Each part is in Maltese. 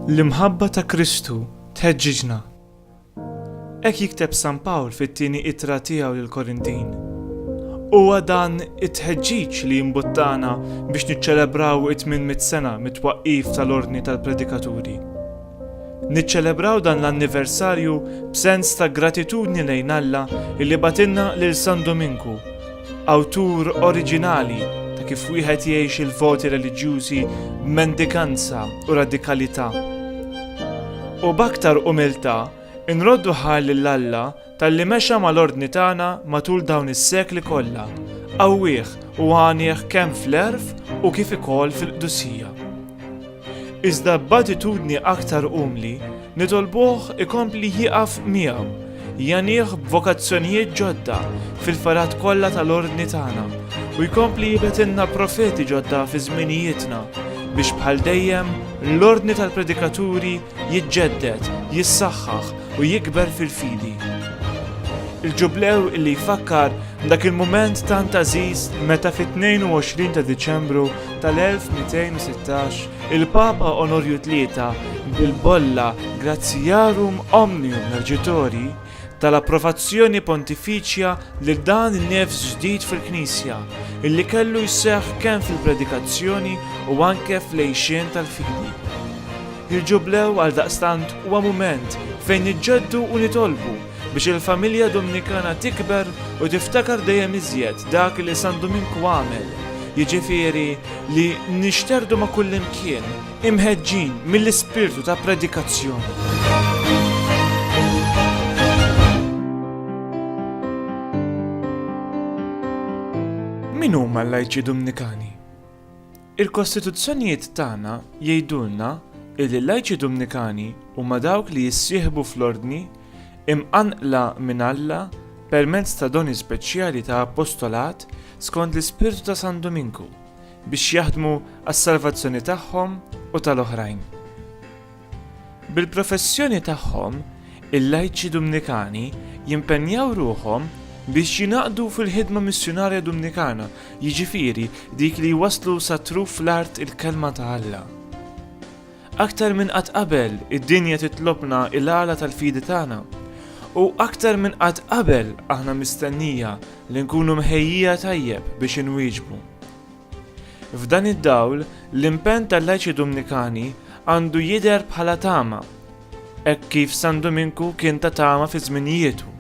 L-imħabba ta' Kristu tħeġġiġna. Hekk jikteb San Pawl fit-tieni ittra tiegħu lill-Korintin. Huwa dan it-tħeġġiġ li jimbuttana biex niċċelebraw it-800 sena mit-twaqqif tal-Ordni tal-Predikaturi. Niċċelebraw dan l-anniversarju b'sens ta' gratitudni lejn Alla li bagħtilna lil San Duminku, awtur oriġinali ta' kif wieħed jgħix il-voti reliġjużi b'mendikanza u radikalità. U b'aktar umiltà nroddu ħajr lil Alla Talli mexa mal-ordni tagħna matul dawn is-sekli kollha, qawwih u għanieh kemm fl-għerf u kif ikoll fil-qdusija. Iżda b'attitudni aktar umli nitolbuh ikompli jieqaf miegħu, jgħanih b'vokazzjonijiet ġodda fil-fergħat kollha tal-ordni tagħna u jkompli jibgħetilna profeti ġodda fi żminijietna biex bħal dejjem l-ordni tal-predikaturi jiġġedded, jissaħħaħ u jikber fil-fidi. Il-Ġublew li jfakkar dak il-mument tant għażiż meta fit-22 ta' Diċembru tal-1216 il-Papa Onorju Tlieta bil-bolla Gratiarum Omnium Mergitori tal-approvazzjoni pontifiċja lil dan in-nefs ġdid fil-Knisja, illi kellu jseħħ kemm fil-predikazzjoni u anke fl-għixien tal-fidi. Il-Ġublew għaldaqstant huwa mument fejn niġġeddu u nitolbu biex il-familja Dumnikana tikber u tiftakar dejjem iżjed dak li San Duminku għamel, jiġifieri li nixterdu ma' kullimkien, imħeġġin mill-ispirtu ta' predikazzjoni. Min huma l-lajċi Dumnikani? Il-Kostituzzjonijiet tagħna jgħidulna li l-lajċi Dumnikani huma dawk li jissieħbu fl-ordni imqanqla minn Alla permezz ta' doni speċjali ta' apostolat skont l-ispirtu ta' San Duminku. biex jaħdmu għas-salvazzjoni tagħhom u tal-oħrajn. Bil-professjoni tagħhom, il-lajċi Dumnikani jimpenjaw ruħhom biex jinaqdu fil-ħidma missjunarja Dumnikana, jiġifieri dik li jwasslu sa truf l-art il-kelma ta' Alla. Aktar minn qatt qabel, id-dinja titlobna l-għala tal-fidi tagħna. U aktar minn qatt qabel aħna mistennija li nkunu mħejjija tajjeb biex inwieġbu. F'dan id-dawl, l-impenn tal-lajċi Dumnikani għandu jidher bħala tama, hekk kif San Duminku kien ta' tama fi żminijietu.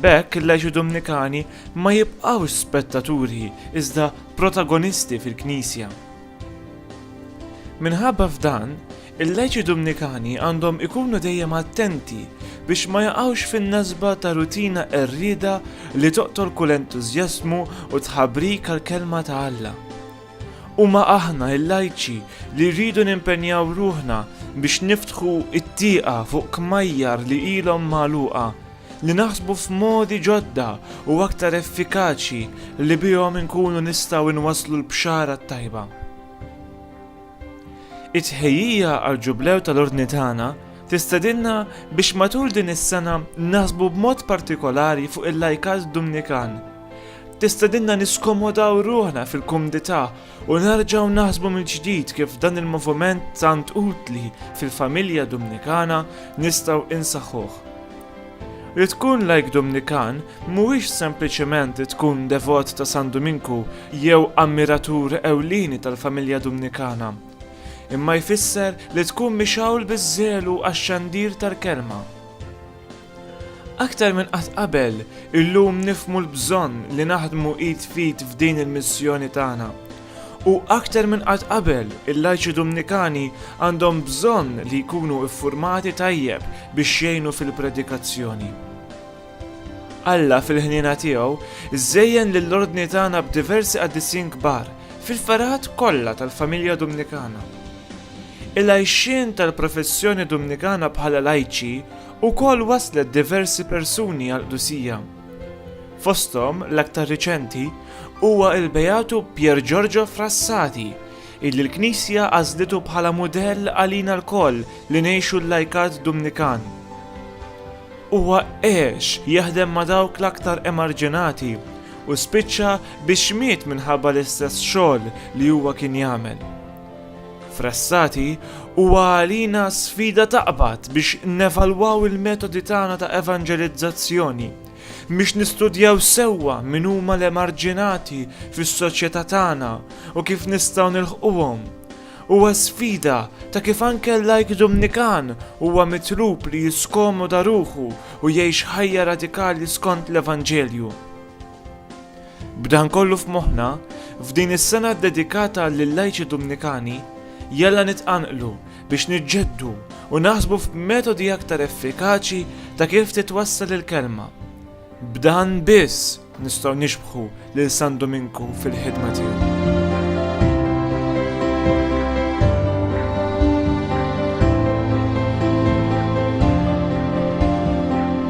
B'hekk il-lajċi Dumnikani ma jibqgħux spettaturi iżda protagonisti fil-Knisja. Minħabba f'dan, il-lajċi Dumnikani għandhom ikunu dejjem attenti biex ma jaqgħux fin-nasba ta' rutina qerrieda li toqtol kull entużjażmu u tħabrik għall-Kelma ta' Alla. Huma aħna, il-lajċi, li rridu nimpenjaw ruħna biex niftħu t-tieqa fuq kmajjar li ilhom magħluqa, li naħsbu f'modi ġodda u aktar effikaċi li bihom inkunu nistgħu nwasslu l-Bxara t-Tajba. It-tħejjija għall-Ġublew tal-Ordni tagħna tistedinna biex matul din is-sena naħsbu b'mod partikolari fuq il-lajkat Dumnikan. Tistedinna niskomodaw ruħna fil-kumdità u nerġgħu naħsbu mill-ġdid kif dan il-moviment tant utli fil-familja Dumnikana nistgħu insaħħuh. Li tkun lajk Dumnikan mhuwiex sempliċement li tkun devot ta' San Duminku jew ammiratur ewlieni tal-familja Dumnikana, imma jfisser li tkun mixgħul biż-żelu għax-xandir tal-kelma. Aktar minn qatt qabel, illum nifhmu l-bżonn li naħdmu id f'id f'din il-missjoni tagħna. U aktar minn qatt qabel, il-lajċi Dumnikani għandhom bżonn li jkunu ffurmati tajjeb biex jgħinu fil-predikazzjoni. Alla fil-ħniena tiegħu żejjen lill-Ordni tagħna b'diversi qaddissin kbar fil-ferħat kollha tal-familja Dumnikana. Il-għixien tal-professjoni Dumnikana bħala lajċi wkoll wasslet diversi persuni għall-qdusija. Fosthom l-aktar riċenti huwa l-Beatu Pier Giorgio Frassati illi l-Knisja għażlitu bħala mudell għalina lkoll li ngħixu l-lajkat Dumnikan. Huwa għex jaħdem ma' dawk l-aktar emarġinati u spiċċa biex miet minħabba l-istess xogħol li huwa kien jagħmel. Frassati, huwa għalina sfida taqbad biex nevalwaw il-metodi tagħna ta' evanġelizzazzjoni, biex nistudjaw sewwa min huma l-emarġinati fis-soċjetà tagħna u kif nistgħu nilħquhom. Huwa sfida ta' kif anke l-lajk Dumnikan huwa mitlub li jiskomoda ruħu u jgħix ħajja radikali skont l-Evanġelju. B'dan kollu f'moħħna, f'din is-sena ddedikata lill-lajċi Dumnikani, jalla nitqanqlu biex niġġeddu u naħsbu f'metodi aktar effikaċi ta' kif titwassal il-Kelma. B'dan biss nistgħu nixbħu lil San Duminku fil-ħidma tiegħu.